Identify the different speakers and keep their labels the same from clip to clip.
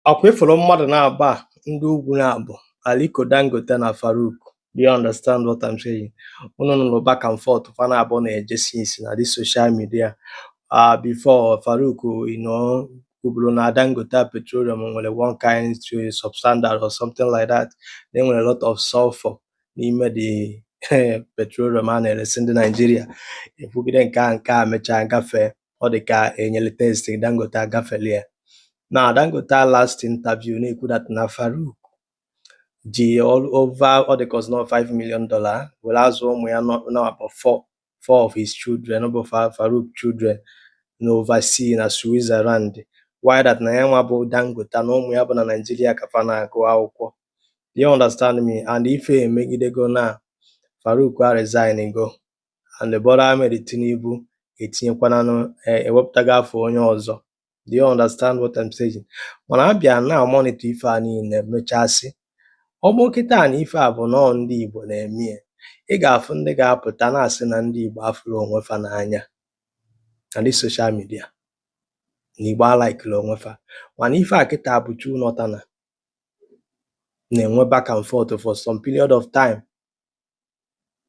Speaker 1: ọkwa ịfụrụ mmadụ naabọ a ndị ugwu na-abụ Aliko Dangote na Farouk do you understand what I'm saying unu nụrụ back and forth fa naabọ na-eje since na this social media uh, before Farouk you know kwuburu na Dangote petroleum nwere one kind of substandard or something like that na enwere a lot of sulfur n'ime the petroleum a na-eresi ndị Naijiria ekwugide nke a nke a mechaa gafee ọ dị ka enyere test Dangote agafeli ya na Dangote last interview na-ekwu that na Farouk ji over ọ dị ka ọ sị na ọ 5 million dollar were azụ ụmụ ya about four of his children ọ bụ Farouk children na oversea na Switzerland while that na ya nwa bụ Dangote na ụmụ ya bụ na Naịjirịa ka fa na-agụ akwụkwọ you understand me and ife emegidego na Farouk a resign go and Bola Ahmed Tinubu etinyekwananụ eh, ewepụtago afa onye ọzọ do you understand what I'm saying mana a bịa na-monitor ife a niile mechasị ọ bụ kịta na ife a bụ nọọ ndị Igbo na-eme ya ị ga-afụ ndị ga-apụta na-asị na ndị Igbo afụrọ onwe fa n'anya na this social media na Igbo alaikirọ onwe fa mana ife a kịta bụ two northerner na-enwe back and forth for some period of time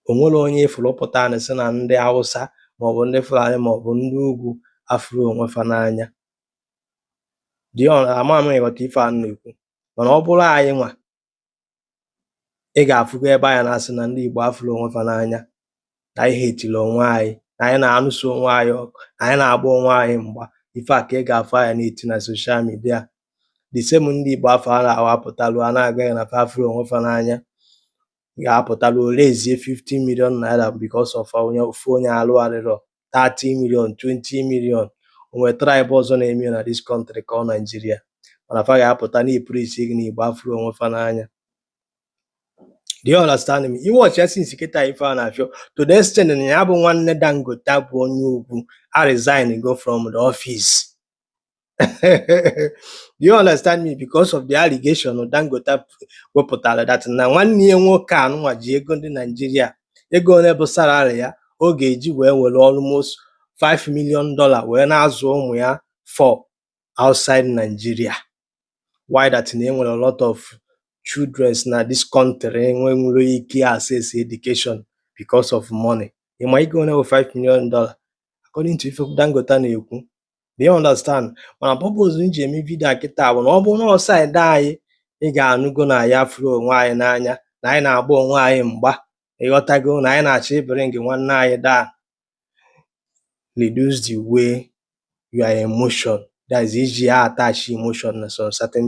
Speaker 1: onwere onye ịfụrụ pụta na-asị na ndị Hausa maọbụ ndị Fulani maọbụ ndị ugwu afụrọ onwe fa n'anya dị ama m ịghọta ife a na-ekwu mana ọ bụrụ anyị nwa ị ga-afụgo ebe anyị na-asị na ndị Igbo afụrọ onwe fa n'anya na anyị hetiri onwe anyị na anyị na-anụso onwe anyị ọgụ na anyị na-agba onwe anyị mgba ife a ka ị ga-afụ anyị na-eti na social media the same ndị Igbo afụ a na-awapụtalụ a na-agaghị na fa afụrọ onwe fa n'anya ga-apụta raisie 15 million naira because of onye ofu onye arụ adịrọ 30 million 20 million o nwe tribe ọzọ na-eme na this country called Naijiria mana fa ga-apụta na-epreach gị na Igbo afụrọ onwe fa n'anya do you understand me ị watchịa since kịta ife a na-afịọ to the extent na ya bụ nwanne Dangote bụ onye ugwu a resign go from the office you understand me because of the allegation Dangote wepụtara that na nwanne ya nwoke anụnwa ji ego ndị Naijiria ego ole bụ salary ya ọ ga-eji wee were almost 5 million dollar wee na-azụ ụmụ ya for outside Nigeria while that na enwere a lot of children na this country enwerọ ike access education because of money ịma ego ole bụ 5 million dollar according to ife Dangote na-ekwu do you understand mana purpose m ji eme vidio a kịta bụ na ọ bụrụ na ọ side anyị ị ga-anụgo na anyị furu onwe anyị n'anya na anyị na-agba onwe anyị mgba ị ghọtago na anyị na-achọ ịbịrị gị nwanne anyị daa reduce the way your emotion that is ị ji a-attach emotion na some certain